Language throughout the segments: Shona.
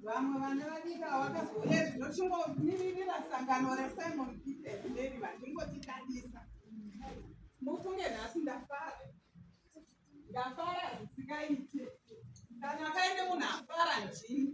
vamwe vana vadika wakazoona zvinochingomiriira sangano resimon peter mary vachingotitadisa mufunge nhasi ndafara ndafara zvisikaite kana kaine munhu afara ndini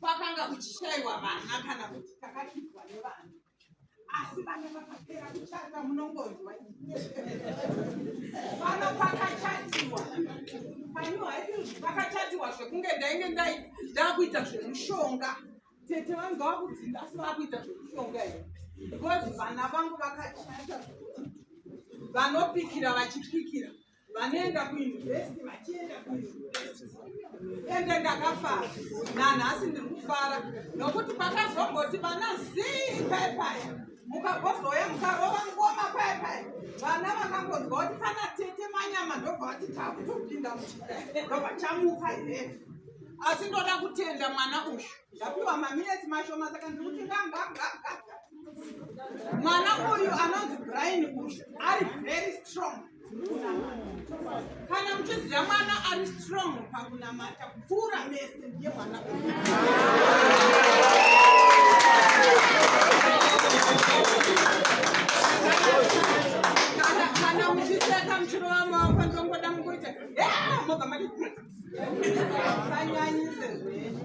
kwakanga kuchishaiwa vana kana kuti takakipwa nevana asi vana vakapera kuchata munongonzwa vana pakachatiwa pakachatiwa zvekunge ndainge ndakuita zvemushonga tete vanga vakuti asi vakuita zvemushonga here because vana vangu vakachata vanopikira vachipikira vanoenda kuuniversity vachienda ende ndakafara nanhasi ndiri kufara nokuti pakazomboti vana zii paye paye mukabozouya mukarova ngoma paye paye vana vakangonzwa kuti kana tete manyama ndobva vati takutopinda ndobva chamuka ine asi ndoda kutenda mwana uyu ndapiwa maminetsi mashoma saka ndiri kuti ngangagagaga mwana uyu anonzi brain uyu ari very strong kana muchiziva mwana ari strong pakunamata kupfuura mese ndiye mwana kana muchiseka muchirova maoko ndongoda mukuita mobva mati sanyanyise zvenyu